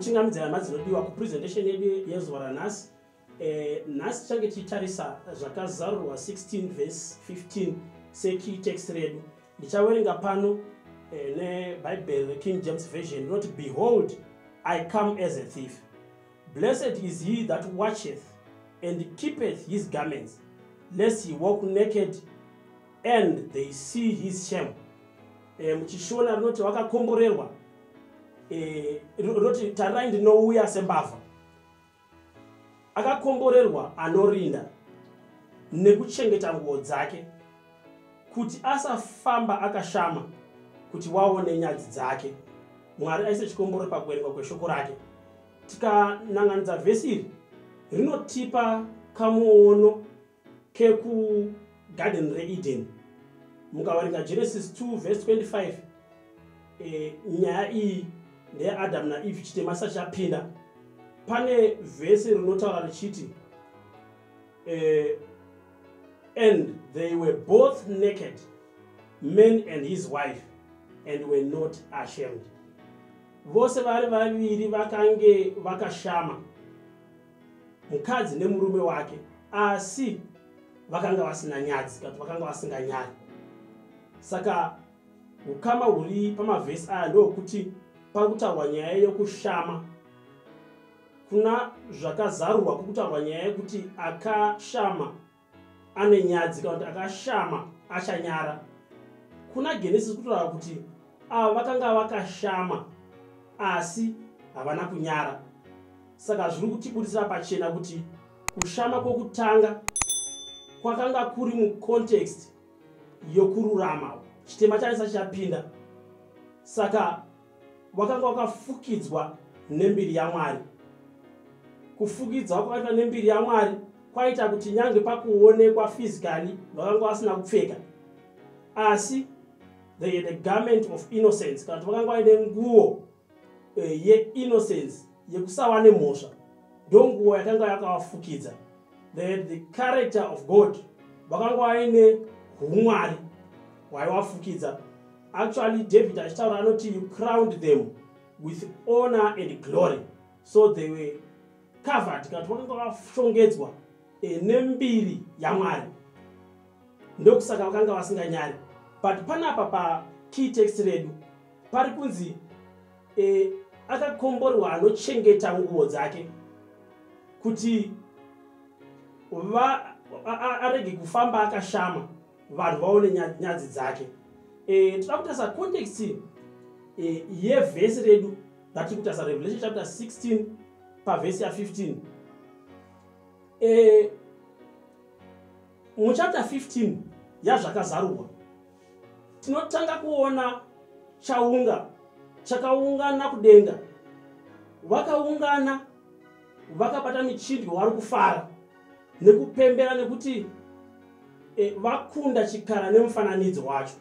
ndokuchingamidzira nhasi dzinodiwa kupresentation yedu yezuva ranhasi eh, nhasi tichange tichitarisa zvakazarurwa 16 vhesi 15 sekey text redu ndichawerenga pano eh, nebhaibheri reking james version rinoti behold i come as a thief Blessed is he that watcheth and keepeth his garments, lest he walk naked and they see his shame. E, muchishona rinoti wakakomborerwa e, rinoti tarirai ndinouya sembavha. Akakomborerwa anorinda nekuchengeta nguo dzake. kuti asafamba akashama kuti waone nyadzi dzake mwari aise chikomboro pakuverengwa kweshoko rake tikananganidza vhesi iri rinotipa kamuono kekugarden reeden mukaverenga genesis 2 vhesi 25 e, nyaya iyi ndeyaadamu naeve chitema sachapinda pane vhesi rinotaura richiti e, and they were both naked man and his wife and were not ashamed vose vari vaviri vakange vakashama mukadzi nemurume wake asi vakanga vasina nyadzi kati vakanga vasinganyari saka ukama huri pamavhesi aya ndokuti pari kutaurwa nyaya yokushama kuna zvakazarurwa kuri kutaurwa nyaya yekuti akashama ane nyadzi kana kuti akashama achanyara kuna genesis kutotaura kuti ava vakanga vakashama asi havana kunyara saka zviri kutibudisira pachena kuti kushama kwokutanga kwakanga kuri mucontext yokururama chitema chanisa chichapinda saka wakanga wakafukidzwa nembiri yamwari kufukidzwa kwakaitwa nembiri yamwari kwaita kuti nyange pakuonekwa physically vakanga vasina kupfeka asi they had a garment of innocence kana kuti vakanga vaine nguo eh, yeinnocence yekusava nemhosva ndo nguo yakanga yakavafukidza they had the character of god vakanga vaine umwari hwaivafukidza Actually, David achitaura anoti you crowned them with honor and glory. So they were covered kana vakanga vashongedzwa eh, nembiri yaMwari. Ndokusaka vakanga vasinganyari. But panapa pa key text redu pari kunzi eh, akakomborwa anochengeta nguvo dzake kuti arege kufamba akashama vanhu vaone nyadzi dzake eh, tinoda kutarisa context eh, yevhesi redu ratiri kutarisa revelation chapter 16 pavhesi ya15 eh, muchapter 15 yazvakazarurwa tinotanga kuona chaunga chakaungana kudenga vakaungana vakabata michindwi wari kufara nekupembera nekuti e, vakunda chikara nemufananidzo wacho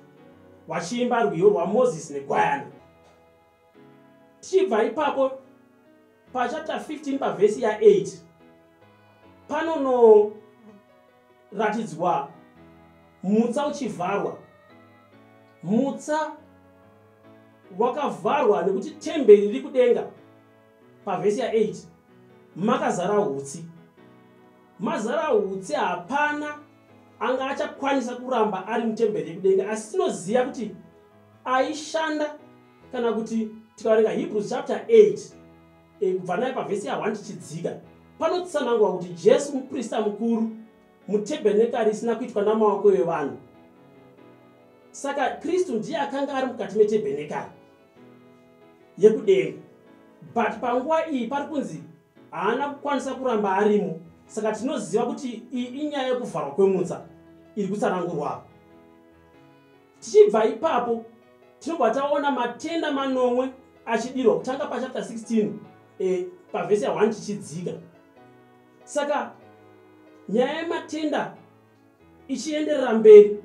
vachiimba rwiyo rwamozisi negwayana tichibva ipapo pachapter 15 pavhesi ya8 panonoratidzwa mutsa uchivharwa mutsa wakavharwa nekuti temberi riri kudenga pavhesi ya8 makazara hutsi mazara hutsi hapana anga achakwanisa kuramba ari mutemberi yekudenga asi tinoziva kuti aishanda kana kuti tikaverenga hebrews chapter 8 eh, kubva naye pavhesi ya1 tichidzika panotsanangwa kuti jesu muprista mukuru mutebhenekari isina kuitwa namaoko evanhu saka kristu ndiye akanga ari mukati metebhenekari yekudenga but panguva iyi pari kunzi haana kukwanisa kuramba arimo saka tinoziva kuti iyi inyaya yekuvharwa kwemutsa iri kutsanangurwaa tichibva ipapo tinobva taona matenda manomwe achidirwa kutanga pachapter 16 eh, pavhesi ya 1 tichidzika saka nyaya yematenda ichienderera mberi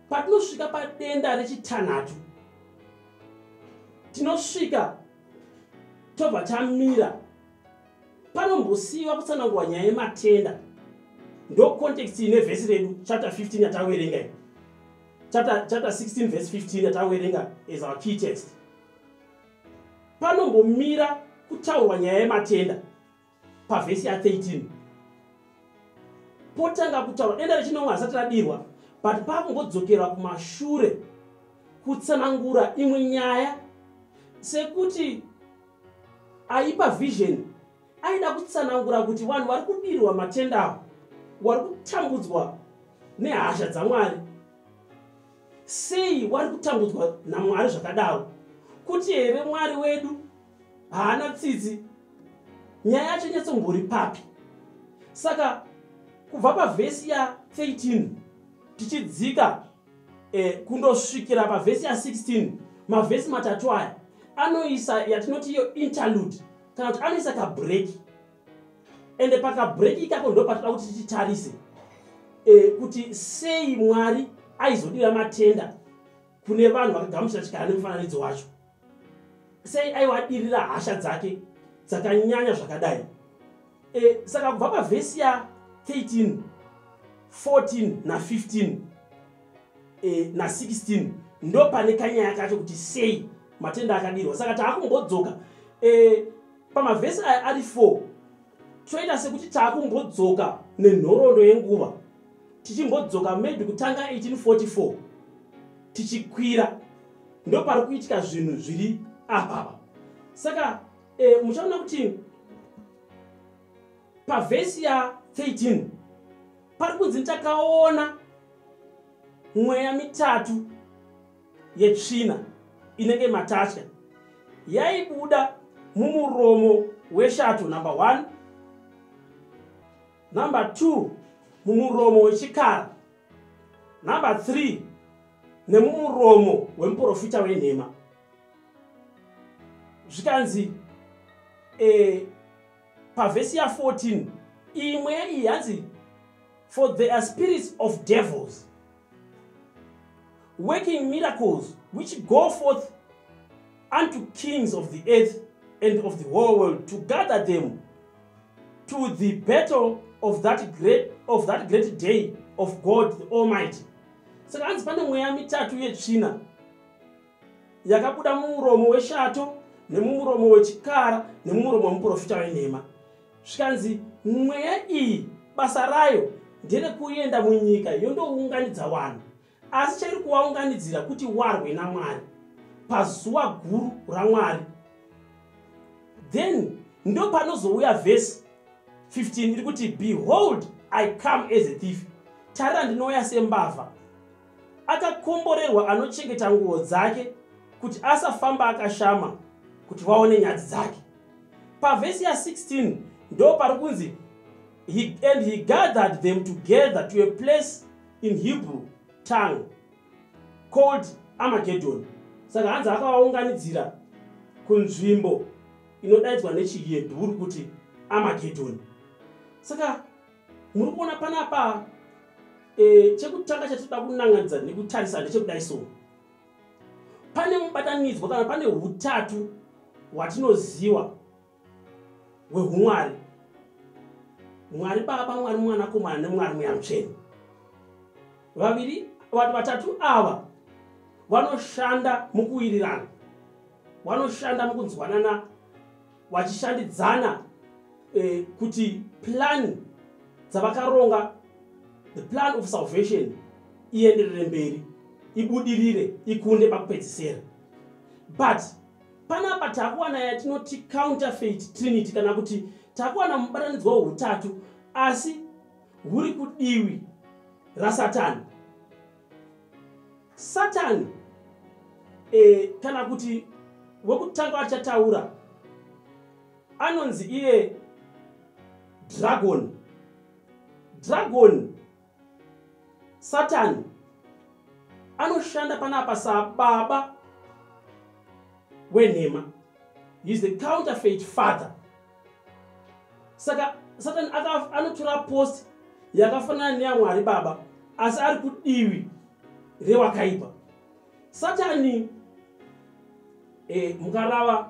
patinosvika padenda rechitanhatu tinosvika tobva tamira panombosiyiwa kutsanangurwa nyaya yematenda ndo context ine vhesi redu chapter 15 yataverenga i chapter, chapter 16 vhesi 15 yataverenga as our key text panombomira kutaurwa nyaya yematenda pavhesi ya 13 potanga kutaura denda rechinomwe hasati radirwa but pakungodzokerwa kumashure kutsanangura imwe nyaya sekuti aipa vision aida kutsanangura kuti vanhu vari kudirwa matenda avo wari kutambudzwa nehasha dzamwari sei wari kutambudzwa namwari zvakadaro kuti here mwari wedu haana tsitsi nyaya yacho nyatsombori papi saka kubva pavhesi ya 13 tichidzika eh, kundosvikira pavhesi ya 16 mavhesi matatu aya anoisa yatinoti iyo interlude kana kuti anoisa kabreki ende pakabreki ikako ndo patida kuti titarise eh, kuti sei mwari aizodira matenda kune vanhu vakagamuchira chikara nemufananidzo wacho sei aiwa adirira hasha dzake dzakanyanya zvakadai e, saka kubva pavhesi ya 13 14 na 15 e, na 16 ndo pane kanyaya kacho kuti sei matenda akadirwa saka taakumbodzoka e, pamavhesi aya ari 4 toita sekuti taakumbodzoka nenhorondo yenguva tichimbodzoka maybe kutanga 1844 tichikwira ndopari kuitika zvinhu zviri apapa saka eh, muchaona kuti pavhesi ya 13 pari kunzi takaona mweya mitatu yetsvina inenge matatya yaibuda mumuromo weshato number one number two mumuromo wechikara number 3 nemumuromo wemuprofita wenhema zvikanzi e, pavhesi ya 14 imwe iyi hanzi for there are spirits of devils working miracles which go forth unto kings of the earth and of the whole world to gather them to the battle of that great, of that great day of god the almighty saka hanzi pane mweya mitatu yetsvina yakabuda mumuromo weshato nemumuromo wechikara nemumuromo wemuprofita wenhema zvikanzi mweya iyi basa rayo nderekuenda munyika yondounganidza vanhu Asi chairi kuvaunganidzira kuti warwe naMwari pazuva guru raMwari. Then ndo panozouya vhesi 15 iri kuti behold i come as a thief tarira ndinouya sembavha akakomborerwa anochengeta nguo dzake kuti asafamba akashama kuti vaone nyadzi dzake pavhesi ya16 ndo pari kunzi He, and he gathered them together to a place in Hebrew tongue called Armageddon. Saka hanzi akavaunganidzira kunzvimbo inodaidzwa nechiHebhuru kuti Armageddon. Saka muri kuona panapa e, chekutanga chatinoda kunanganidza nekutarisa ndechekudai so pane mubatanidzwa kana pane utatu hwatinoziwa hwehumwari mwari baba mwari mwanakomana nemwari mweya mutsveni vaviri vanhu vatatu ava vanoshanda mukuwirirana vanoshanda mukunzwanana vachishandidzana eh, kuti plani dzavakaronga the plan of salvation ienderere mberi ibudirire ikunde pakupedzisera but panapa takuwana yatinoti counterfeit trinity kana kuti takuwana mubatanidzwa weutatu asi huri kudiwi rasatani satani e, kana kuti wekutanga achataura anonzi iye dragon dragon satani anoshanda panapa sababa wenhema heis the counterfeit father saka satani anotora post yakafanana neyamwari baba asi ari kudivi rewakaipa satani e, mukarava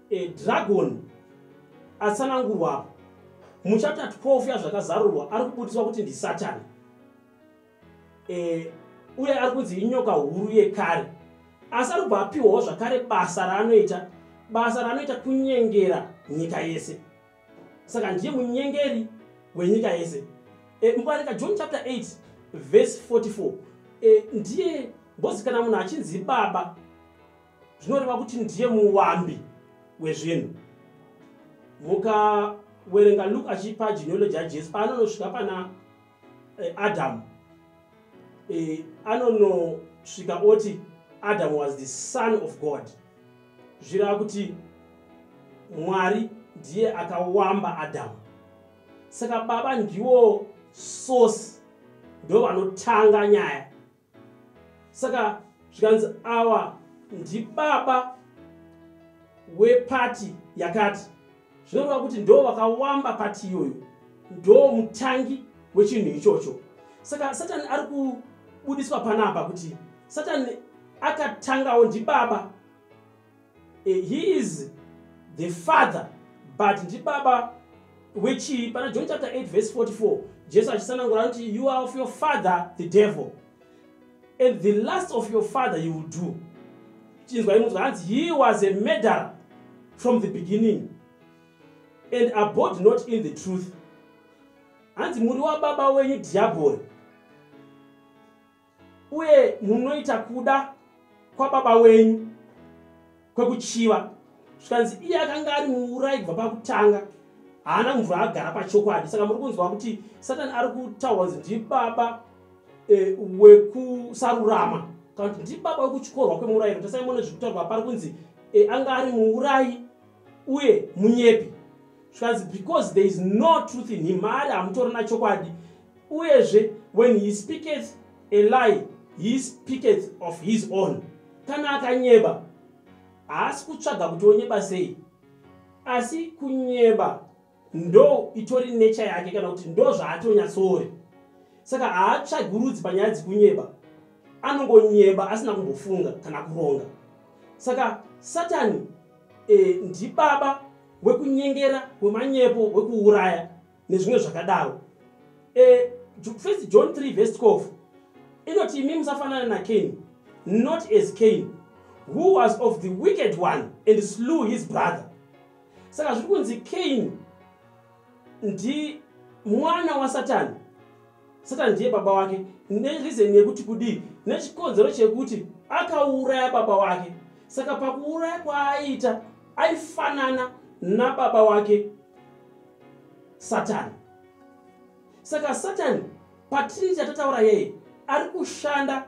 e, dragon atsanangurwa apo muchapta 12 yazvakazarurwa ari kubudiswa kuti ndisatani e, uye ari kunzi inyoka huru yekare asi ari kubva apiwawo zvakare basa raanoita basa raanoita kunyengera nyika yese saka ndiye munyengeri wenyika yese e, mubarika john chapter 8 verse 44 e, ndiye bhozi kana munhu achinzi baba zvinoreva kuti ndiye muwambi wezvinhu mukawerenga luke achipa genealogy yajesu paanonosvika pana eh, adamu eh, anonosvika oti adamu was the son of god zvireva kuti mwari ndiye akawamba adamu saka baba ndiwo source ndo vanotanga nyaya saka zvikanzi awa ndibaba wepati yakati zvinoreva kuti ndo vakawamba pati iyoyo ndo mutangi wechinhu ichocho saka satani ari kubudiswa panapa kuti satani akatangawo ndibaba eh, he is the father but ndibaba wechii pana john chapter 8 verse 44 jesu achisanangura anoti you are of your father the devil and the last of your father you will do chinzwa imunzwa hanzi he was a murderer from the beginning and abode not in the truth hanzi muri wababa wenyu dhiabhori uye munoita kuda kwababa wenyu kwekuchiva zvikanzi iye akanga ari muurai kubva pakutanga haana mvura agara pachokwadi saka muri kunzwa kuti satani ari kutaurwa nzi ndibaba e, wekusarurama kana kuti ndibaba wekuchikorwa kwemurayiro tasai mone zviri kutaurwa pari kunzi e, anga ari muurai uye munyepi zvikanzi because there is no truth in him maari hamutorina chokwadi uyezve when he speaketh a lie he speaketh of his own kana akanyeba haasi kutsvaga kuti onyeba sei asi kunyeba ndo itori nature yake kana kuti ndo zvaatonyatsoori saka haatsvagurudzi panyaya dzikunyeba anongonyeba asina kumbofunga kana kuronga saka satani e, ndibaba wekunyengera wemanyepo wekuuraya nezvimwe zvakadaro e, first john 3 vest 12 inoti imi musafanana nacain not as cain who was of the wicked one and slew his brother saka zviri kunzi kain ndi mwana wasatani satani ndiye baba wake nerizeni yekuti kudii nechikonzero chekuti akauraya baba wake saka pakuuraya kwaaiita aifanana nababa wake satani saka satani patrinity yatataura yeye ari kushanda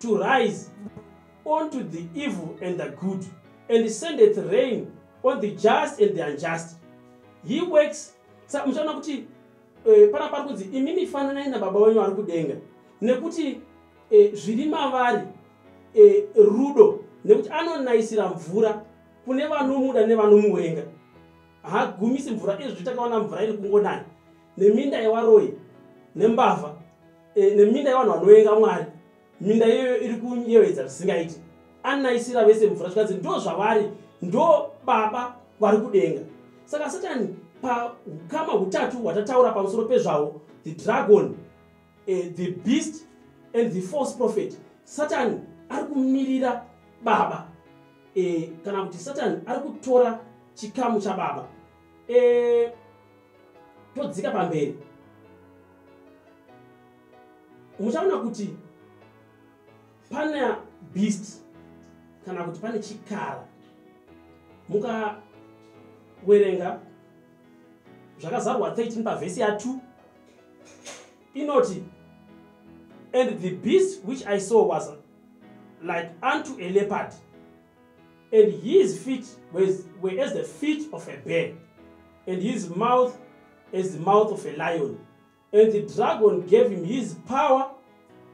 to rise unto the evil and the good, and sendeth rain on the just and the unjust. He works muchaona kuti eh, pana pari kunzi imimi fananai nababa wenyu ari kudenga nekuti eh, zviri mavari eh, rudo nekuti anonayisira mvura kune vanomuda nevanomuwenga haagumisi mvura izvi takaona mvura iri kungonaya neminda yewaroyi nembavha e, neminda yevanhu vanovenga mwari minda iyoyo iri kunyevedza zvisingaiti anonaisira vese mvura zvikanzi ndo zvavari ndo baba vari kudenga saka satani paukama hutatu hwatataura pamusoro pezvavo the dragon uh, the beast and the false prophet satani ari kumirira baba uh, kana kuti satani ari kutora chikamu chababa uh, todzika pamberi muchaona kuti pana beast kana kuti pane chikara mukawerenga zvakazarwa 13 pavhesi ya2 inoti and the beast which i saw was like unto a leopard and his feet was, were as the feet of a bear, and his mouth as the mouth of a lion. And the dragon gave him his power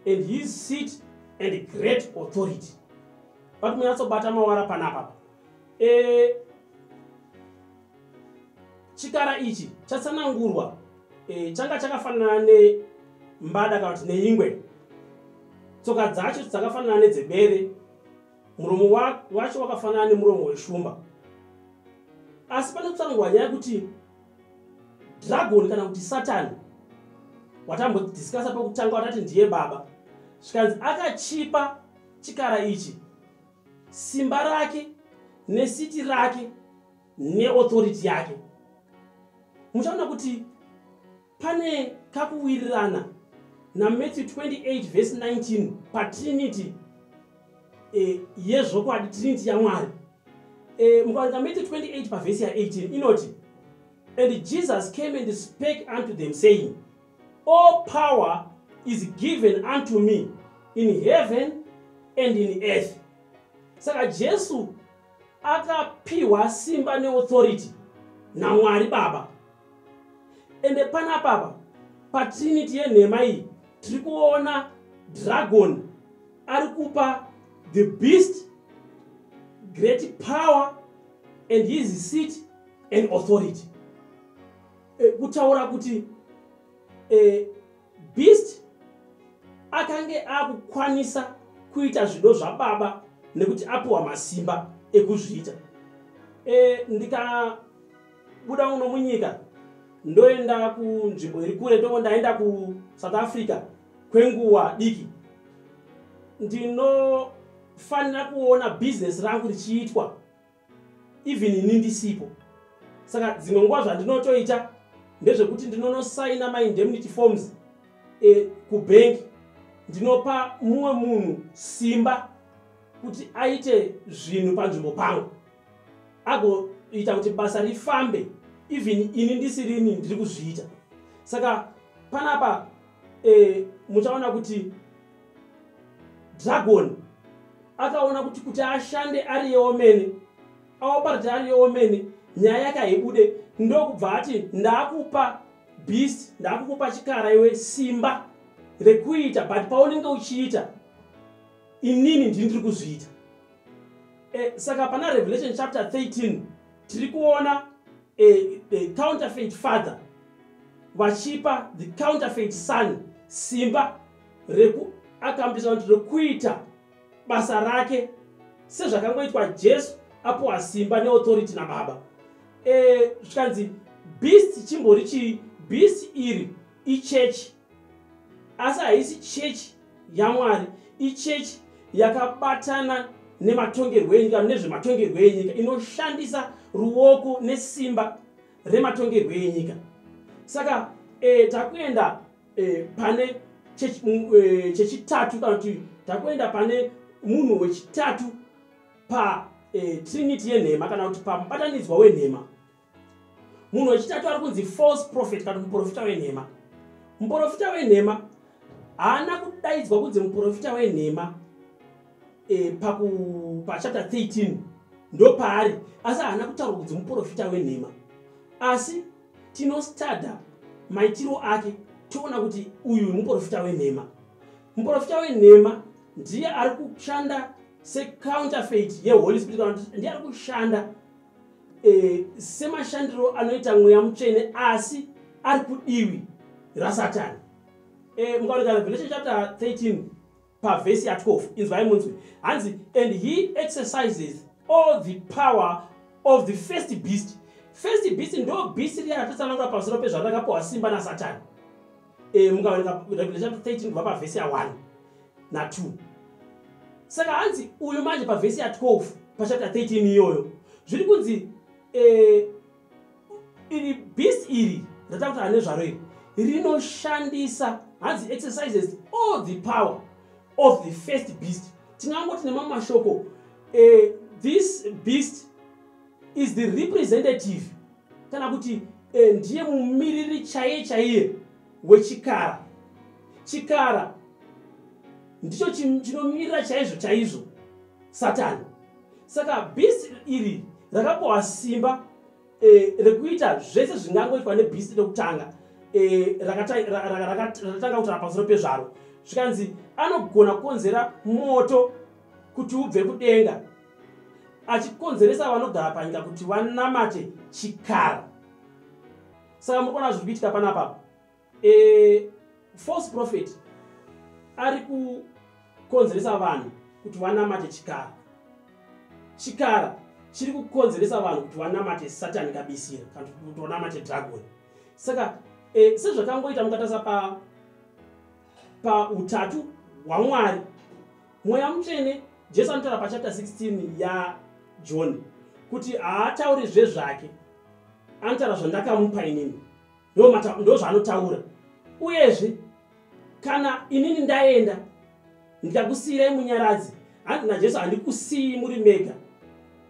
and his seat and great authority. But we also bata mawara panapa. Eh, chikara ichi chatsanangurwa eh, changa chakafanana nembada kana kuti neingwe tsoka dzacho dzakafanana nedzebere muromo wacho wakafanana nemuromo weshumba asi pane kutsanangurwa nyaya yekuti dragoni kana kuti satani watambodiscasa pekutanga watati ndiye baba zvikanzi akachipa chikara ichi simba rake nesiti rake neauthority yake muchaona kuti Pane kakuwirirana naMatthew 28 vhesi 19 patrinity e, yezvokwadi trinity yamwari e, mukaverenga Matthew 28 pavhesi ya18 inoti and Jesus came and spake unto them saying all power is given unto me in heaven and in earth saka jesu akapiwa simba neauthority namwari baba ende panapapa patrinity yenhema iyi tiri kuona dragon ari kupa the beast great power and his seat and authority e, kutaura kuti e, beast akange akukwanisa kuita zvido zvababa nekuti apiwa masimba ekuzviita e, ndika buda uno munyika ndoenda kunzvimbo iri kure toko ndaenda kusouth africa kwenguva diki ndinofanira kuona bhizinesi rangu richiitwa even ini ndisipo saka dzimwe nguva zvandinotoita ndezvekuti ndinonosaina maindemnity forms e, eh, kubhengi ndinopa mumwe munhu simba kuti aite zvinhu panzvimbo pangu agoita kuti basa rifambe even ini ndisirini ndiri kuzviita saka panapa e, muchaona kuti dragon akaona kuti kuti ashande ari yeomene aoparati ari yeomene nyaya yake haibude ndokubva ati ndakupa beast ndakukupa chikara iwe simba rekuita but paunenge uchiita inini ndini ndiri kuzviita eh, saka pana revelation chapter 13 tiri kuona eh, the counterfeit father vachipa the counterfeit son simba rekuakambiisa kuti rekuita basa rake sezvakangoitwa jesu apuwa simba neauthority nababa eh, zvikanzi e, beast chimbori chii beast iri ichechi asi haisi chechi yamwari ichechi yakabatana nematongerwo enyika kana nezvematongerwo enyika inoshandisa ruoko nesimba rematongerwo enyika saka e, takuenda e, pane eh, chechitatu kana kuti takuenda pane munhu wechitatu patrinity e, yenhema kana kuti pamubatanidzwa wenhema munhu wechitatu ari kunzi false prophet kana muprofita wenhema muprofita wenhema haana kudaidzwa kunzi muprofita wenhema e, pachapter 13 ndo paari asi haana kutaurwa kunzi muprofita wenhema asi tinostada maitiro ake toona kuti uyu muprofita wenhema muprofita wenhema ndiye ari kushanda secounterfeit yeholy spirit ndiye ari kushanda e, semashandiro anoita mweya mutsvene asi ari kudiwi rasatani e, mukaoneka revelation chapter 13 pavhesi ya 12 inzwai munzwi hanzi and he exercises all the power of the first beast first beast ndo beast riya ratotsanangura pamusoro pezvarakapiwa simba nasatani eh, mukaverenga revelation chapter 13 kubva pavhesi ya1 na2 saka hanzi uyu manje pavhesi ya12 pachapter 13 iyoyo zviri kunzi eh, iri beast iri ratakuta ane zvaro iri rinoshandisa hanzi exercises all the power of the first beast tingangoti nemamwe mashoko eh, this beast is the representative kana kuti eh, ndiye mumiriri chaiye chaiye wechikara chikara ndicho chinomirira chaizvo chaizvo satani saka bhisti iri rakapohwa simba eh, rekuita zvese zvingangoitwa nebhisti rekutanga eh, rakatanga kutara pamusoro pezvaro zvikanzi anogona kukonzera moto kuti ubve kudenga achikonzeresa vanogara panyika kuti vanamate chikara saka muri kuona zviri kuitika pana papa e, false prophet ari kukonzeresa vanhu kuti vanamate chikara chikara chiri kukonzeresa vanhu kuti vanamate satani kabisira kana kuti vanamate dragon saka e, sezvakangoita mukatarisa pa pautatu hwamwari Mweya Mutsvene, Jesu anotaura pachapter 16 yaJohn kuti haatauri zvezvake, anotaura zvandakamupa inini, ndozvaanotaura. Uyezve, kana inini ndaenda ndikakusiyirai munyaradzi, hanzi naJesu, handikusiyi muri mega,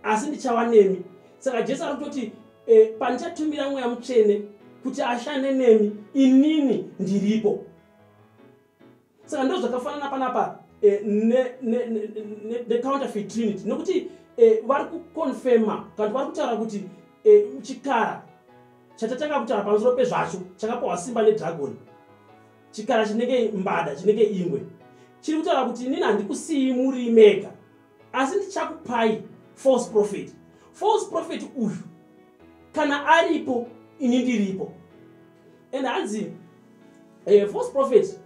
asi ndichava nemi. Saka Jesu ari kutoti e, pandichatumira Mweya Mutsvene kuti ashande nemi, inini ndiripo. saka ndo zvakafanana panapa eh, necounterfeit trinity nekuti eh, vari kuconfirma kanti vari kutaura kuti eh, chikara chatatanga kutaura pamusoro pezvacho chakapohwa simba nedragoni chikara chinenge mbada chinenge ingwe chiri kutaura kuti inini handikusiyi muri mega asi ndichakupai false prophet false prophet uyu kana aripo ini ndiripo and hanzi eh, false prophet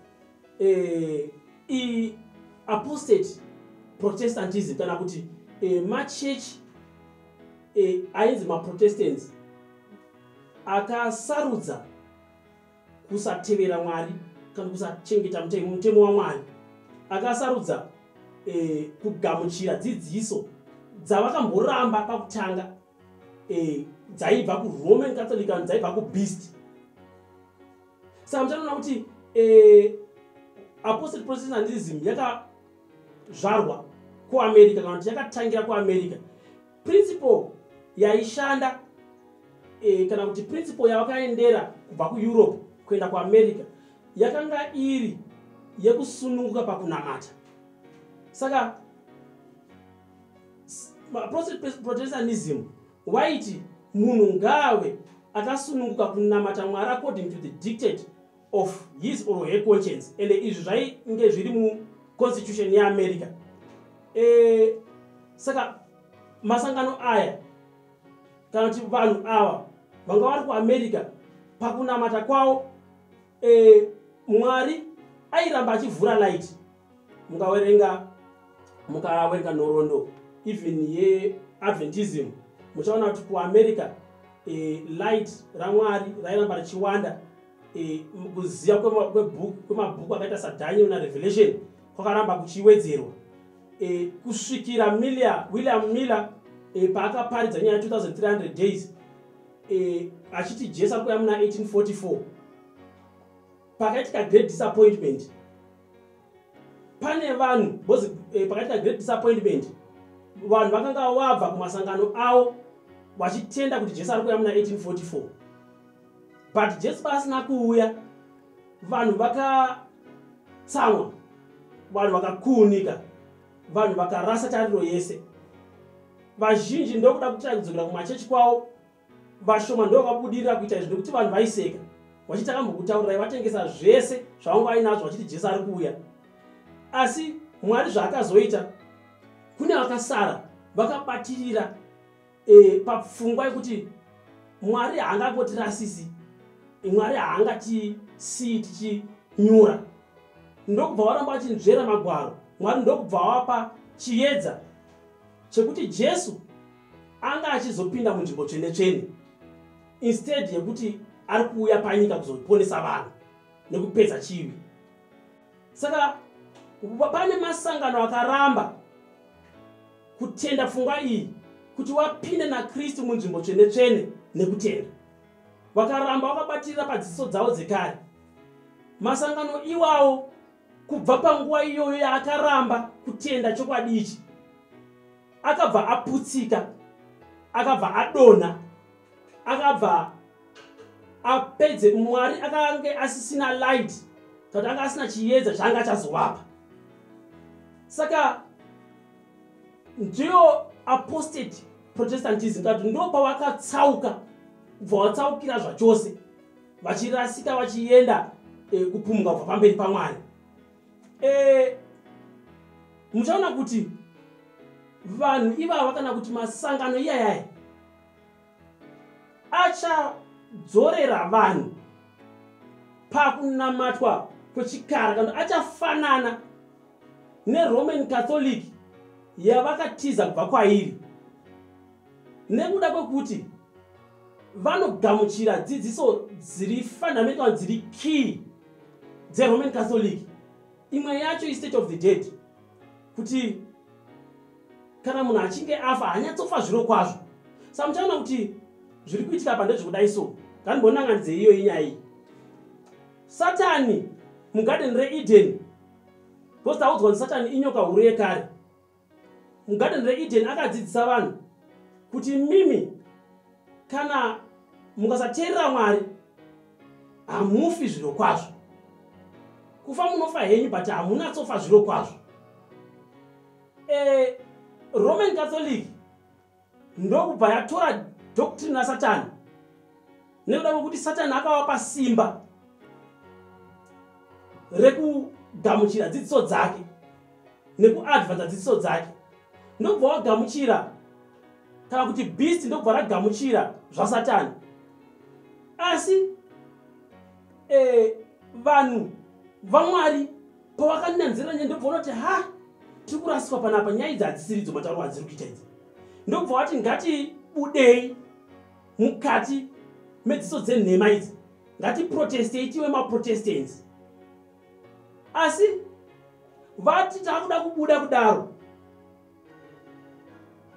eh, apostate protestantism kana kuti eh, machurch eh, ainzi maprotestants akasarudza kusatevera mwari kana kusachengeta mutemo mutemo wamwari akasarudza eh, kugamuchira dzidziso dzavakamboramba pakutanga eh, dzaibva kuroman catholic kana dzaibva kubeast saka muchanoona kuti eh, apostate protestantism yakazvarwa kuamerica kana kuti yakatangira kuamerica principle yaishanda e, kana kuti principle yavakaendera kubva kueurope kuenda kuamerica yakanga iri yekusununguka pakunamata saka protestantism waiti munhu ngaave akasununguka kunamata mwari according to the dictate of his or her conscience and izvi zvainge zviri mu constitution yeamerica e, saka masangano aya kana kuti vanhu ava vanga vari kuamerica pakunamata kwavo e, mwari airamba achivhura light mukawerenga mukawerenga nhorondo even yeadventism muchaona kuti kuamerica e, light ramwari rairamba richiwanda e, kuziva kwemabhuku akaita sadaniel narevelation kwakaramba kuchiwedzerwa e, kusvikira miller william miller e, paakaparidza nyaya 2300 days e, achiti jesu akuya muna 1844 pakaitika great disappointment pane vanhu bcause e, pakaitika great disappointment vanhu vakanga wabva kumasangano avo vachitenda kuti jesu ari kuya muna 1844 but jesu paasina kuuya vanhu vakatsamwa vanhu vakakuunika vanhu vakarasa tariro yese vazhinji ndokuda kutira kudzokera kumachechi kwavo vashoma ndovabudirira kuita izvi nekuti vanhu vaiseka vachiti akambokutaurirai vatengesa zvese zvavanga ainazvo vachiti jesu ari kuuya asi mwari zvaakazoita kune vakasara vakabatirira e, papfungwa yekuti mwari haangangotirasisi mwari haangatisii tichinyura ndokubva waramba vachinzvera magwaro mwari ndokubva wapa chiedza chekuti jesu anga achizopinda munzvimbo tsvene tsvene instead yekuti ari kuuya panyika kuzoponesa vanhu nekupedza chivi saka pane masangano akaramba kutenda pfungwa iyi kuti wapinde nakristu munzvimbo tsvene tsvene nekutenda vakaramba vakabatirira padzidziso dzavo dzekare masangano iwawo kubva panguva iyoyo yaakaramba kutenda chokwadi ichi akabva aputsika akabva adonha akabva apedze mwari akange asisina light kuti anga asina chiyedza chaanga achazovapa saka ndiyo apostate protestantism kati ndo pavakatsauka kubva vatsaukira zvachose vachirasika vachienda e, eh, kupumuka kubva pamberi pamwari e, muchaona kuti vanhu ivava kana kuti masangano iyayaya achadzorera vanhu pakunamatwa kwechikara kana achafanana neroman catholic yavakatiza kubva kwairi nekuda kwekuti vanogamuchira dzidziso dziri fundamental dziri key dzeroman catholic imwe yacho istate of the dead kuti kana munhu achinge afa hanyatsofa zviro kwazvo sa muchaona kuti zviri kuitika pa ndezvekudai so ngandibonanganidze iyo inyaya iyi satani mugadheni reedeni because taudzwa kuti satani inyoka huru yekare mugadheni reedeni akadzidzisa vanhu kuti mimi kana mukasateerera mwari hamufi zviro kwazvo kufa munofa henyu but hamunatsofa zviro kwazvo e, roman catholic ndokubva yatora doctrine rasatani nekuda kwekuti satani akavapa simba rekugamuchira dzidziso dzake nekuadvanza dzidziso dzake ndokubva wagamuchira kana kuti beast ndokubva ragamuchira zvasatani asi eh, vanhu vamwari pavakananzira nyaya ndobva unoti ha tiri kurasiswa panapa nyaya idzi hadzisiridzo matauro adziri kuita idzi ndobva wati ngatibudei mukati medziso dzenhema idzi ngatiprotestei tive maprotestants asi vati takuda kubuda kudaro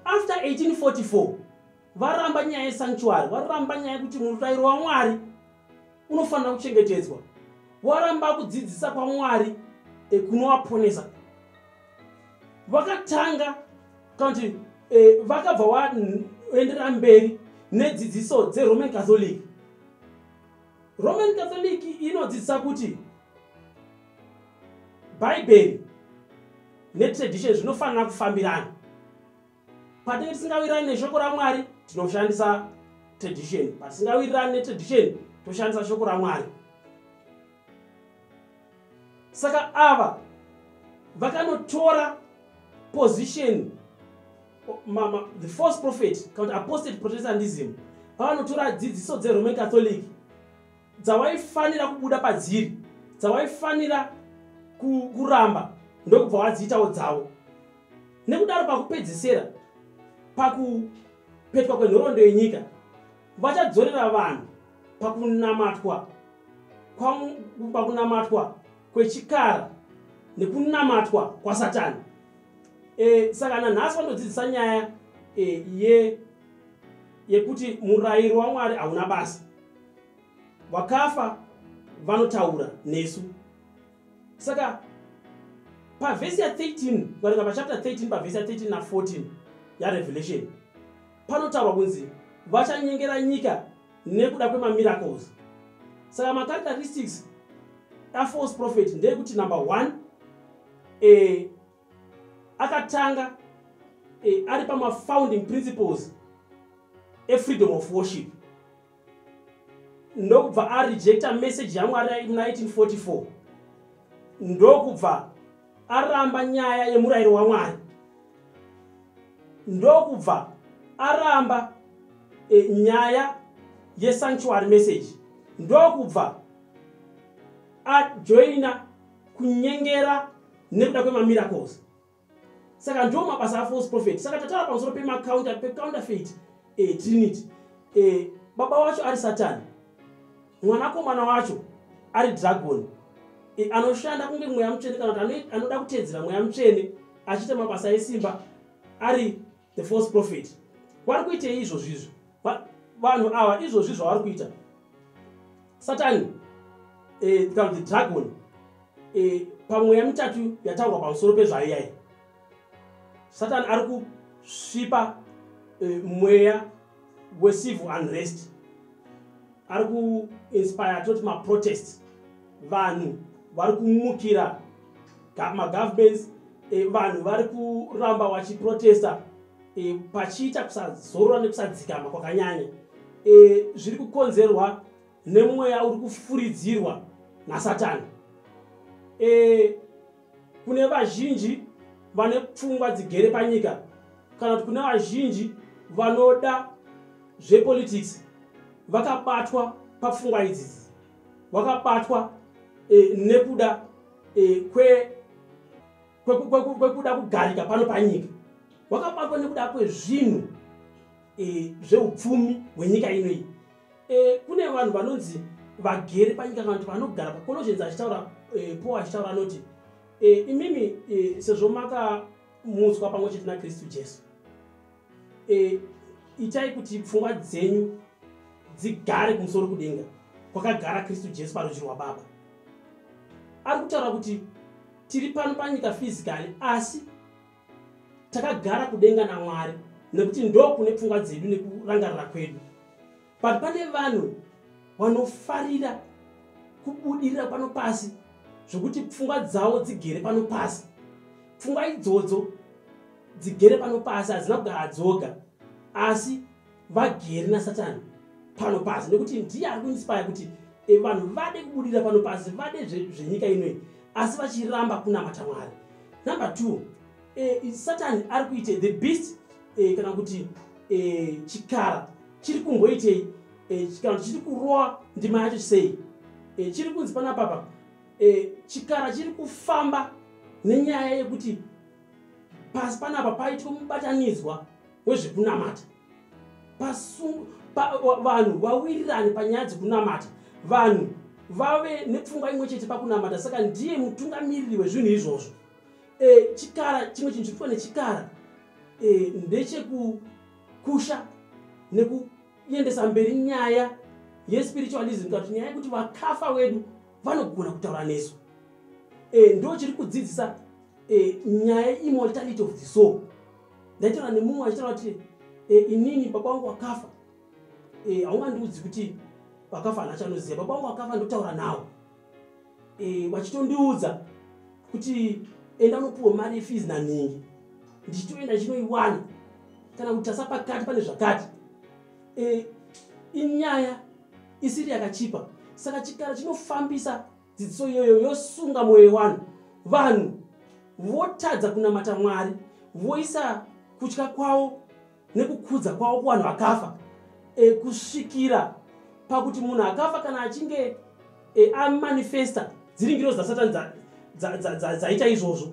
after 1844 varamba nyaya yesanctuary varamba nyaya yekuti murairo wamwari unofanira kuchengetedzwa waramba kudzidzisa kwamwari ekunowaponesa vakatanga kana kuti eh, vakabva waendera mberi nedzidziso dzeroman catholic roman catholic inodzidzisa kuti bhaibheri netradition zvinofanira kufambirana patinge tisingawirirani neshoko ramwari tinoshandisa tradition patisingawirirani netradition toshandisa shoko ramwari saka ava vakanotora position mama the first prophet kana kuti apostate protestandism pavanotora dzidziso dzeroman catholic dzawaifanira kubuda padziri dzawaifanira kuramba ndokubva wadziitawo dzavo nekudaro pakupedzisira pakupetwa kwenhorondo yenyika vachadzorera vanhu pakunamatwa pakunamatwa kwechikara nekunamatwa kwasatani e, saka nanhasi vanodzidzisa nyaya e, ye yekuti murayiro wamwari hauna basa vakafa vanotaura nesu saka pavhesi ya 13 varinga pachapter 13 pavhesi ya 13 na 14 yarevelation panotaurwa kunzi vachanyengera nyika nekuda kwemamiracles saka macharacteristics afalse prophet ndeyekuti number one e, akatanga eh, ari pamafounding principles efreedom of worship ndokubva arejecta message yamwari muna 1844 ndokubva aramba nyaya yemurayiro wamwari ndokubva aramba e, nyaya yesanctuary message ndokubva ajoina kunyengera nekuda kwemamiracles saka ndo mabasa afalse prophet saka tataura pamusoro pemacounter pecounterfeit eh, trinity eh, baba wacho ari satani mwanakomana wacho ari dragon eh, anoshanda kunge mweya mutsvene kana kuti anoda kuteedzera mweya mutsvene achiita mabasa esimba ari the false prophet vari kuitei izvozvi izvo vanhu ava izvozvi zvavari kuita satani eh, kana the dragon eh, pamweya mitatu yataurwa pamusoro pezvaiyai satani ari kusvipa eh, mweya wecivil unrest ari kuinspire toti maprotest vanhu vari kumukira magovernments eh, vanhu vari kuramba vachiprotesta eh, pachiita kusazorora nekusadzikama kwakanyanya eh, zviri kukonzerwa nemweya uri kufuridzirwa nasatani kune vazhinji vane pfungwa dzigere panyika kana kuti kune vazhinji vanoda zvepolitics vakabatwa papfungwa idzidzi vakabatwa e, nekuda e, kwe kwekuda kugarika pano panyika vakabatwa nekuda kwezvinhu e, zveupfumi hwenyika inoyi Eh, kune vanhu vanonzi vagere panyika kana kuti vanogara pacologens achitaura eh, paul achitaura anoti eh, imimi sezvo makamutswa pamwe chete nakristu jesu itai kuti pfungwa dzenyu dzigare kumusoro kudenga kwakagara kristu jesu parudzi rwababa ari kutaura kuti tiri pano panyika fizikali asi takagara kudenga namwari nekuti ndokune pfungwa dzedu nekurangarira kwedu but pane vanhu vanofarira kubudirira pano pasi zvekuti pfungwa dzavo dzigere pano pasi pfungwa idzodzo dzigere pano pasi hadzina kugara dzoga asi vageri nasatani pano pasi nekuti ndiye ari kuinspire kuti e, vanhu vade kubudira pano pasi vade zvenyika zve inoi asi vachiramba kunamata mwari number two e, satani ari kuite the beast e, kana kuti e, chikara chiri kumboitei e, kana kuti chiri kurowa ndima yacho sei e, chiri kunzi panapapa e, chikara chiri kufamba nenyaya yekuti pasi panapa paitwa mubatanidzwa wezvekunamata vanhu vawirirane panyaya dzekunamata vanhu vave nepfungwa imwe chete pakunamata saka ndiye mutungamiriri wezvinhu izvozvo e, chikara chimwe chinhu chirikuwa nechikara e, ndechekukusha nekuendesa mberi nyaya yespiritualism kati nyaya yekuti vakafa wedu vanogona kutaura nesu e, ndo chiri kudzidzisa e, nyaya immortality of the soul ndaitaura nemumwe achitaura kuti e, inini baba wangu akafa e, haungandiudzi kuti vakafa hana chanoziva baba wangu akafa ndotaura nawo e, vachitondiudza kuti enda unopiwa mari yefees nanhingi ndichitoenda ndichinoiwana kana kuti tasa pakati pane zvakati e, inyaya isiri yakachipa saka chikara chinofambisa dzidziso iyoyo yosunga mwoyo yewanhu vanhu votadza kunamata mwari voisa kutya kwavo nekukudza kwavo kuvanhu vakafa e, kusvikira pakuti munhu akafa kana achinge e, amanifesta dziringiro dzasatani dzaita izvozvo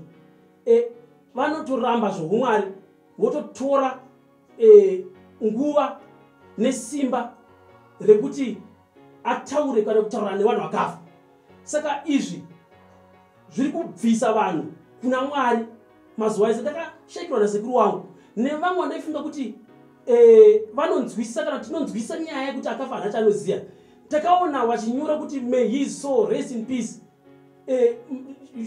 e, vanotoramba zvoumwari vototora e, nguva nesimba rekuti ataure kana kutaurana nevanhu vakafa saka izvi zviri kubvisa vanhu kuna mwari mazuva ese ndakashaikirwa nasekuru wangu nevamwe vandaifunga kuti e, vanonzwisisa kana tinonzwisisa nyaya yekuti akafa hana chanoziva takaona vachinyora kuti may his soul rest in peace eh,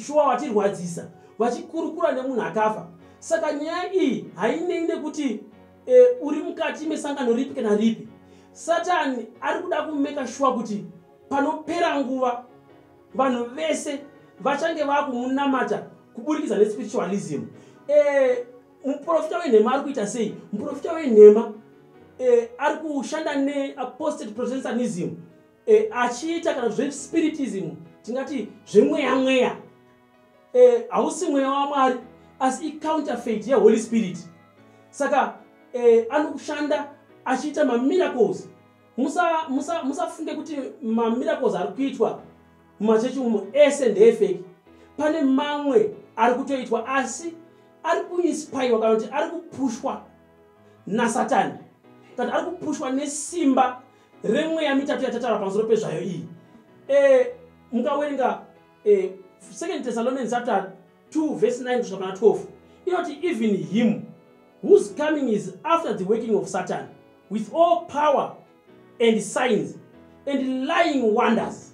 shuwa vatirwadzisa vachikurukura nemunhu akafa saka nyaya iyi hainei nekuti eh, uri mukati mesangano ripi kana ripi satani ari kuda kumeka shuwa kuti panopera nguva vanhu vese vachange vakumunamata kuburikidza nespiritualism eh, muprofita wenhema ari kuita sei muprofita wenhema eh, ari kushanda neapostate protestantism e, achiita kana zvespiritism tingati zvemweya mweya e, hausi e, mweya wamwari asi icounterfeit yeholy spirit saka e, anokushanda achiita mamiracles musafunge musa, musa kuti mamiracles ari kuitwa mumachechi umo ese ndeefeki pane mamwe ari kutoitwa asi ari kuinspirwa kana kuti ari kupushwa nasatani kana ari kupushwa nesimba remweya mitatu yatataura pamusoro pezvayo iyi e, mukawerenga e, second thessalonians chapter 2 verse 9 kusvika pana 12 inoti even him whose coming is after the working of satan with all power and signs and lying wonders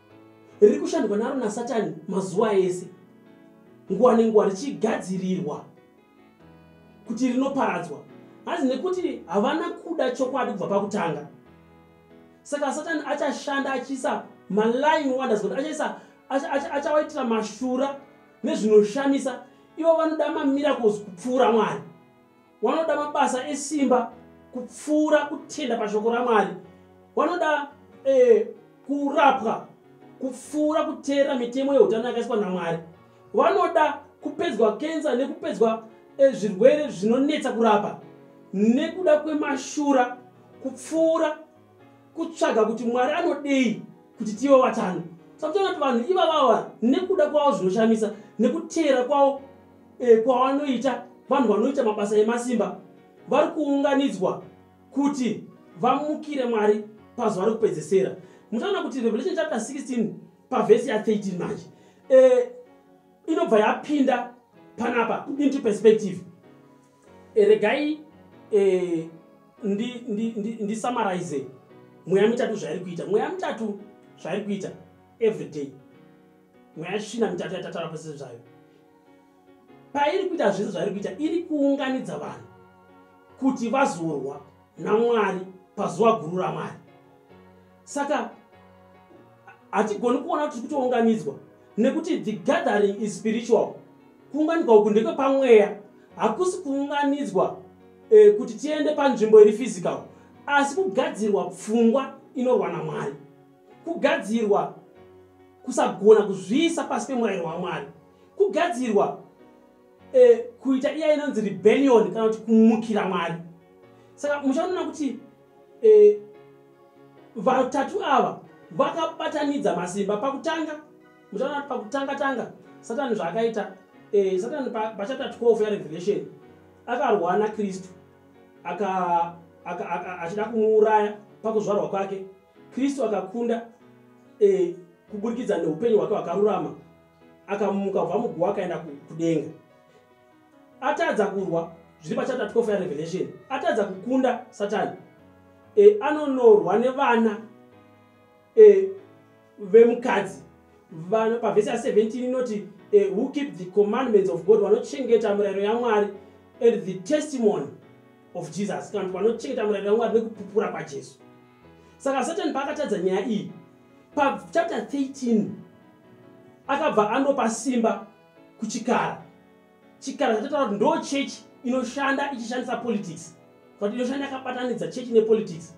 riri kushandwa naro nasatani mazuva ese nguva nenguva richigadzirirwa kuti rinoparadzwa hanzi nekuti havana kuda chokwadi kubva pakutanga saka satani achashanda achiisa maline wonders kuti achaisa achawaitira mashura nezvinoshamisa ivo vanoda mamiracles kupfuura mwari wanoda mabasa esimba kupfuura kutenda pashoko ramwari wanoda eh, kurapwa kupfuura kuteera mitemo yeutano yakaiswa namwari wanoda kupedzwa kensa nekupedzwa eh, zvirwere zvinonetsa kurapa nekuda kwemashura kupfuura kutsvaga kuti mwari anodei kuti tive vatano sakutoona kuti vanhu ivavava nekuda kwavo zvinoshamisa nekuteera kwavo e, kwavanoita vanhu vanoita mabasa emasimba vari kuunganidzwa kuti vamukire mwari pazuva rekupedzesera muchaona kuti revelation chapter 16 pavhesi ya13 manje e, inobva yapinda panapa into perspective Eh, regai eh, ndisamarize ndi, ndi, ndi mweya mitatu zvairi kuita mweya mitatu zvairi kuita every day mweya shina mitatu yatatara pese zvayo pairi kuita zvese zvairi kuita iri kuunganidza vanhu kuti vazorwa namwari pazuva guru ramwari saka hatigoni kuona kuti tiri kutounganidzwa nekuti the gathering is spiritual kuunganidzwa uku ndekwe pamweya hakusi kuunganidzwa eh, kuti tiende panzvimbo iri physical asi kugadzirwa pfungwa inorwa namwari kugadzirwa kusagona kuzviisa pasi pemurayiro wamwari kugadzirwa eh, kuita iya inonzi rebellion kana kuti kumukira mwari saka muchaonana kuti e, vatatu ava vakabatanidza masimba pakutanga muchaona kuti pakutanga tanga satani zvaakaita e, satani pachapta 12 yarevelation akarwa nakristu achida kumuuraya pakuzvarwa kwake kristu akakunda e, kuburikidza neupenyu hwake hwakarurama akamuka kubva muguwa akaenda kudenga atadza kurwa zviri pachapter 12 yarevelation atadza kukunda satani e, anonorwa nevana e, vemukadzi pavhesi ya 17 inoti e, who keep the commandments of god vanochengeta murayiro yamwari and the testimony of jesus kana kuti vanochengeta murayiro yamwari nekupupura kwajesu saka satani paakatadza nyaya iyi pachapter 13 akabva anopa simba kuchikara chikara chatotaura kuti ndo church inoshanda ichishandisa politics kuti inoshanda yakabatanidza church nepolitics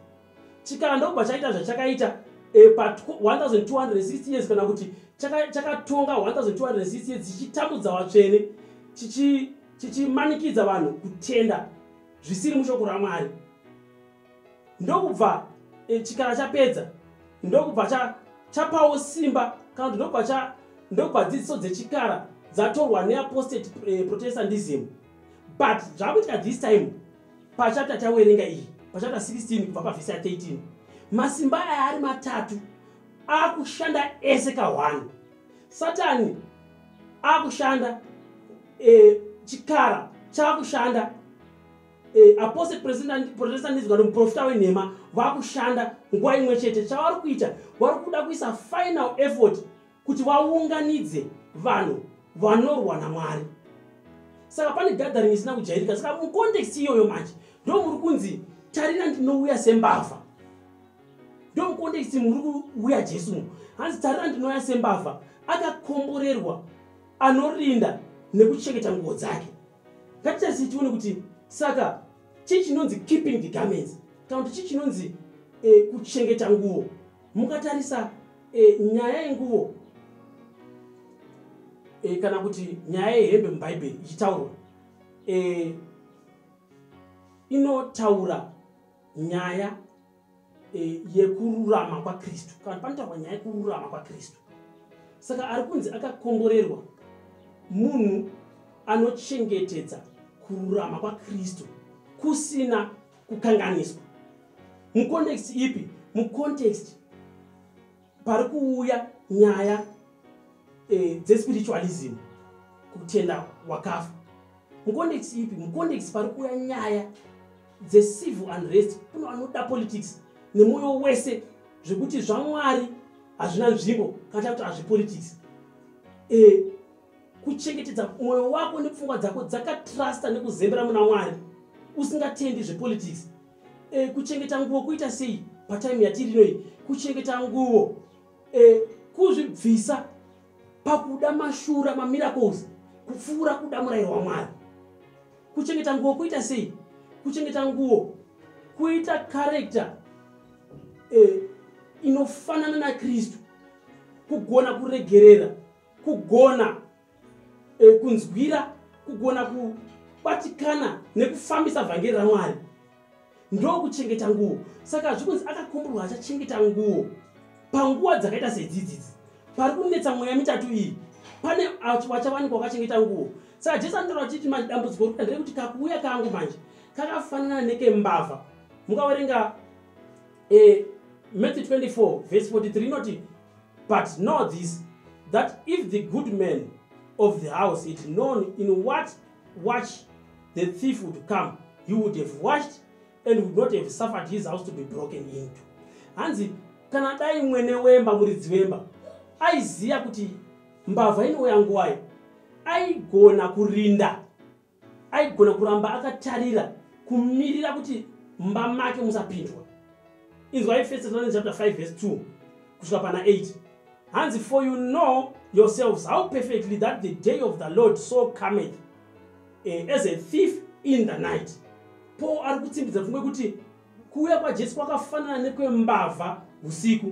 chikara ndobva chaita zvachakaita eh, pa 1260 years kana kuti chakatonga 1260 years chichitambudza vatsvene chichimanikidza vanhu kutenda zvisiri mushoko ramwari ndokubva e, chikara chapedza ndokubva cha, chapawo simba kana kuti ndokubva cha ndokubva dzidziso dzechikara dzatorwa neapostate e, protestantism but zvakuitika this time pachapta tawerenga iyi pachapta 16 kubva pavhisi ya 13 masimba aya ari matatu akushanda ese kahwani satani akushanda e, chikara chakushanda eh, apose protestandism kana muprofita wenhema vakushanda nguva imwe chete chavari kuita vari kuda kuisa final effort kuti vaunganidze vanhu vanorwa namwari saka pane gathering isina kujairika saka mucontext iyoyo manje ndo muri kunzi tarina ndinouya sembavha ndo mucontext muri kuuya jesu mu hanzi tarina ndinouya sembavha akakomborerwa anorinda nekuchengeta nguo dzake Ngatitarisi tione kuti saka chii chinonzi keeping the garments kana kuti chii chinonzi e, kuchengeta nguvo. Mukatarisa e, nyaya yenguvo e, kana kuti nyaya yehembe mubhaibheri ichitaurwa e, inotaura nyaya eh, yekururama kwakristu kana panotaurwa nyaya yekururama kwakristu saka ari kunzi akakomborerwa munhu anochengetedza kururama kwakristu kusina kukanganiswa mucontext ipi mucontext pari kuuya nyaya eh, dzespiritualism kutenda wakafa mucondex ipi mucondex pari kuuya nyaya dzecivil unrest kuno vanoda politics nemwoyo wese zvekuti zvamwari hazvina nzvimbo kana takuti hazvipolitics e, kuchengetedza mwoyo wako nepfungwa dzako dzakatrusta nekuzembera muna mwari usingatendi zvepolitics e, kuchengeta nguvo kuita sei patime yatiri inoyi kuchengeta nguvo e, kuzvibvisa pakuda mashura mamiracles kupfuura kuda murayiro wamwari kuchengeta nguvo kuita sei kuchengeta nguvo kuita karekta e, inofanana nakristu kugona kuregerera kugona e, kunzwira kugona kubatikana nekufambisa vhangeri ramwari ndokuchengeta nguo saka zvikunzi akakumburwa achachengeta nguo panguva dzakaita sedzidzidzi pari kunetsa mweya mitatu iyi pane vachawanikwa wakachengeta nguo saka jesu anotaura vachiti manje dambudziko rikuda nderekuti kakuuya kangu manje kakafanana nekembavha mukaverenga e, matthew 24 vhesi 43 inoti but know this that if the good man of the house had known in what watch the thief would come he would have watched and would not have suffered his house to be broken into hanzi kana dai mwene wemba muridzi wemba aiziva kuti mbavha inouya nguwayo aigona kurinda aigona kuramba akatarira kumirira kuti mumba make musapindwa inzwai first thessalonians chapter 5 verse 2 kusvika pana 8 hanzi for you know yourselves how perfectly that the day of the lord so cometh eh, as a thief in the night paul ari kutsimbidza pfungwa yekuti kuuya kwajesu kwakafanana nekwembavha usiku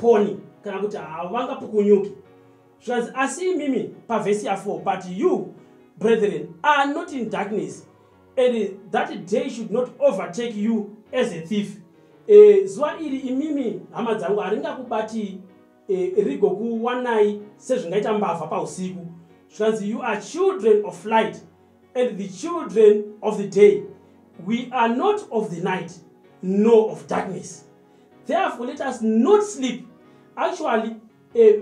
koni kana kuti havanga pukunyuki zvikanzi asi imimi pavhesi ya4 but you brethren are not in darkness and that day should not overtake you as a thief e, zuva iri imimi hama dzangu haringakubati e, rigokuwanai sezvingaita mbavha pausiku zvikanzi you are children of light and the children of the day we are not of the night nor of darkness therefore let us not sleep actually eh,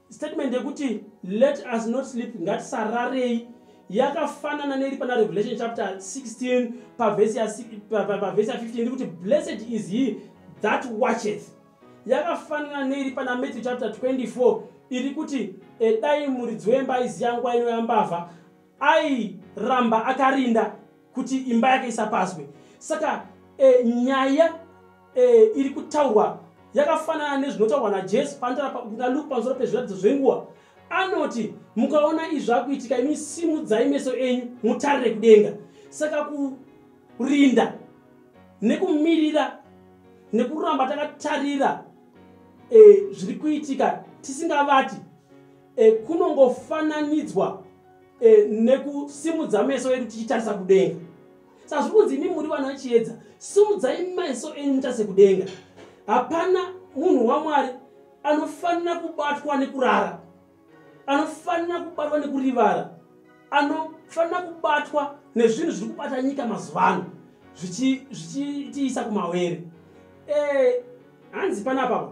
statement yekuti let us not sleep ngatisararei yakafanana neiri pana revelation chapter 16 pavhesi ya 15 iri kuti blessed is he that watcheth yakafanana neiri pana matthew chapter 24 iri kuti edai muridzi wemba aiziya nguva inoyambavha airamba akarinda kuti imba yake isapazwe saka e, nyaya e, iri kutaurwa yakafanana nezvinotaurwa najesu naluke pamusoro pezviratidzo zvenguva anoti mukaona izvi akuitika imi simudzai meso enyu mutarire kudenga saka kurinda nekumirira nekuramba takatarira e, zviri kuitika tisingavati e, kunongofananidzwa e, nekusimudza meso edu tichitarisa kudenga saka zviri kunzi imi muri vana chiedza simudzai meso enyu mutarise kudenga hapana munhu wamwari anofanira kubatwa nekurara anofanira kubatwa nekurivara anofanira kubatwa nezvinhu zviri kubata nyika mazuva ano zvichitiisa kumawere eh, hanzi panapapa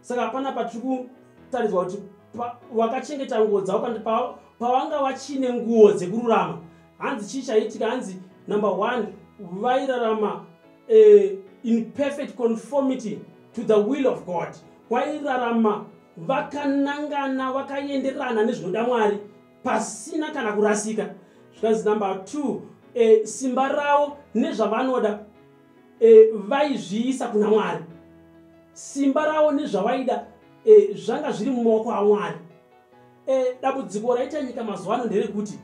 saka hapana patiri kutaridzwa kuti wakachengeta nguo dzavo kandi pawanga vachine nguo dzekururama hanzi chii chaiitika hanzi number one vairarama eh, in perfect conformity to the will of god wairarama vakanangana vakaenderana nezvinoda mwari pasina kana kurasika zvikanzi number two e, simba ravo nezvavanoda e, vaizviisa kuna mwari simba ravo nezvavaida e, zvanga zviri mumaoko amwari e, dambudziko raita nyika mazuva ano nderekuti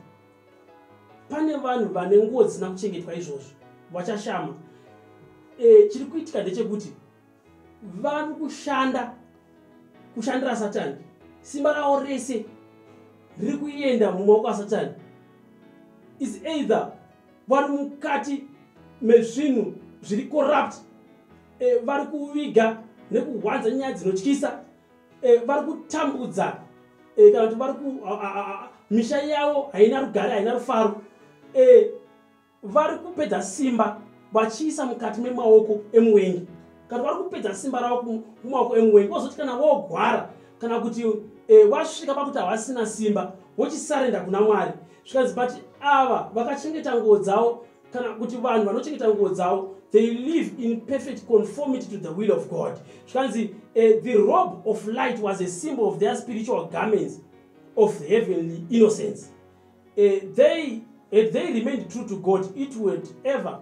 pane vanhu vane nguo dzisina kuchengetwa izvozvo vachashama e, chiri kuitika ndechekuti vari kushanda kushandira satani simba ravo rese riri kuenda mumaoko asatani is either vari mukati mezvinhu zviri corrupt e, vari kuviga nekuhwanza nyaya dzinotyisa e, vari kutambudza e, kana kuti vari ku misha yavo haina rugare haina rufaro e, vari kupedza simba vachiisa mukati memaoko emuwengi kana vari kupedza simba ravo kumaoko emuwengi vozoti kana vogwara kana kuti e, vasvika pakuti havasina simba vochisarenda kuna mwari zvikanzi but ava vakachengeta nguo dzavo kana kuti vanhu vanochengeta nguo dzavo they live in perfect conformity to the will of god zvikanzi uh, the robe of light was a symbol of their spiritual garments of heavenly innocence uh, they had they remained true to god it would ever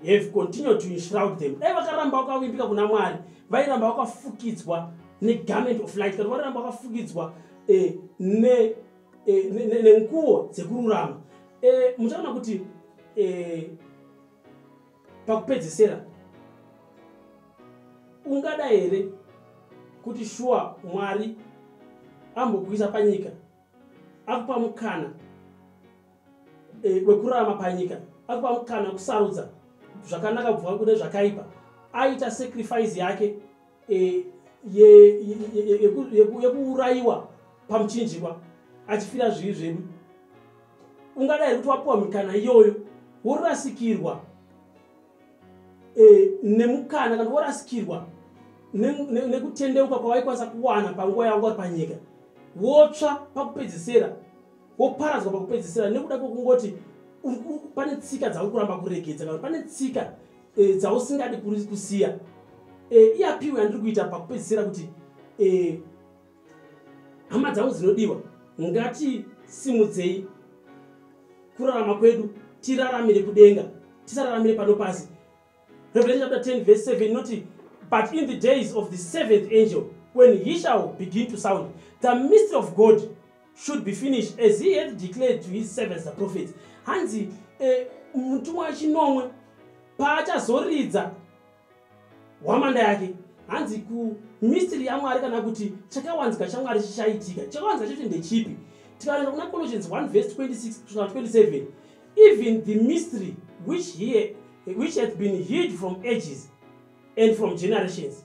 have continued to enshroud them dai vakaramba vakavimbika kuna mwari vairamba vakafukidzwa negarment of light kana vairamba vakafukidzwa uh, ne eh, nenguwo dzekururama eh, muchaona kuti eh, pakupedzesera ungada here kuti shuwa mwari ambokuisa panyika akupa mukana e, wekurarama panyika akupa mukana wekusarudza zvakanaka bvua kune zvakaipa aita sacrifice yake e, yekuurayiwa ye, ye, ye, ye pamuchinjikwa achifira zvivi zvedu ungadai kuti wapiwa mikana iyoyo worasikirwa e, nemukana kana worasikirwa nekutendeuka ne, ne kwawaikwanisa kuwana panguva yavo vari panyika wotsva pakupedzisira woparadzwa pakupedzisira nekuda kwekungoti pane tsika dzauri kuramba kuregedza kana pane tsika e, dzausingadi kuri kusiya e, eh, iapiwe yandiri kuita pakupedzisira kuti e, hama dzangu dzinodiwa ngati simudzei kurarama kwedu tiraramire kudenga tisararamire pano pasi revelation chapter 10 verse 7 inoti but in the days of the seventh angel when he shall begin to sound the mystery of god should be finished as he had declared to his servants the prophets hanzi eh, mutumwa wechinomwe paachazoridza hwamanda yake hanzi kumistiri yamwari kana kuti chakawanzika chamwari chichaitika chakawanzika chacho ndechipi tikaenda kuna colossians 1 vese 26 kusvika 27 even the mystery which, he, which hath been hid from ages and from generations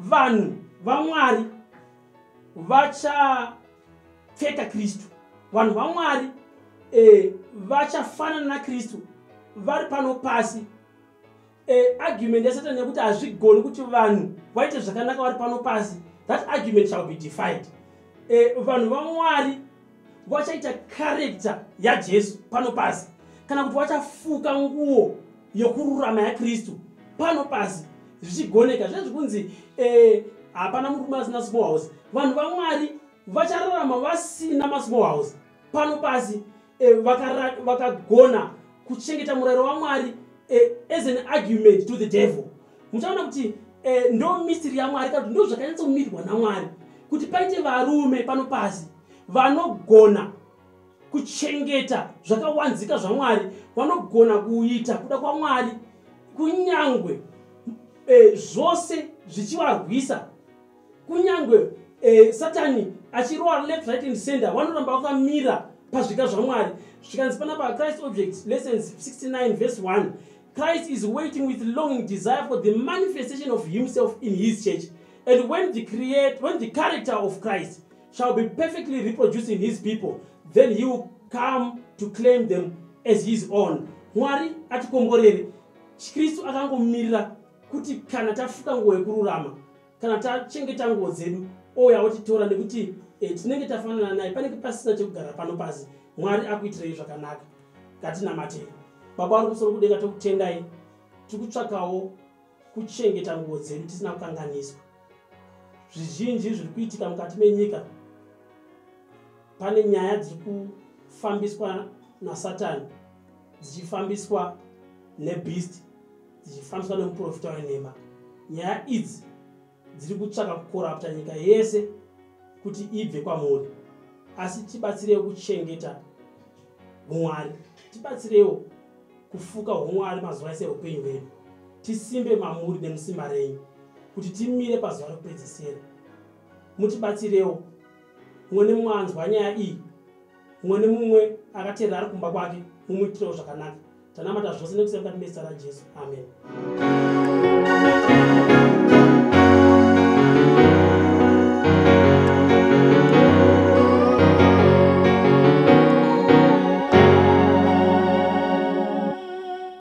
vanhu vamwari vachapfeka kristu vanhu vamwari e, vachafanana nakristu vari pano pasi e, argument yasatani yekuti hazvigoni kuti vanhu vaite zvakanaka vari pano pasi that argument shall be defied e, vanhu vamwari vachaita karekta yajesu pano pasi kana kuti vachafuka nguo yokururama yakristu pano pasi zvichigoneka zvezvi kunzi eh, hapana eh, murume asina small house vanhu vamwari vachararama vasina masmall house pano pasi eh, vakagona vaka kuchengeta murayiro wamwari eh, as an argument to the devil muchaona kuti eh, ndo misiri yamwari kana kuti ndo zvakanyatsomirwa namwari kuti paite varume pano pasi vanogona kuchengeta zvakawanzika zvamwari vanogona kuita kuda kwamwari kunyangwe e, zvose zvichivarwisa kunyangwe e, satani achirowa left right and center vanoramba vakamira pazvika zvamwari zvikanzi panapa christ objects lessons 69 vese 1 Christ is waiting with longing desire for the manifestation of himself in his church. And when the, create, when the character of Christ shall be perfectly reproduced in his people, then he will come to claim them as his own. Mwari atikomborere. Kristu akangomirira kuti kana tafuka nguva yekururama kana tachengeta nguo dzedu ouya otitora nekuti e, tinenge tafanana naye panenge pasina chekugara pano pasi mwari akuitirei zvakanaka ngatinamatei baba vari kusoro kudenga tokutendai tiri kutsvakawo kuchengeta nguo dzedu tisina kukanganiswa zvizhinji zviri kuitika mukati menyika pane nyaya dziri kufambiswa nasatani dzichifambiswa nebeast dzichifambiswa nemuprofita wenhema nyaya idzi dziri kutsvaka kukorapta nyika yese kuti ibve kwamuri asi tibatsireiwo kuchengeta umwari tibatsireiwo kufuka umwari mazuva ese eupenyu hwedu tisimbe mamuri nemusimba renyu kuti timire pazuva rekupedzisira mutibatsirewo mwene mwanzwa nyaya iyi mumwe nemumwe akateerera ari kumba kwake mumuitirewo zvakanaka tanamata zvose nekusema kati mezita rajesu amen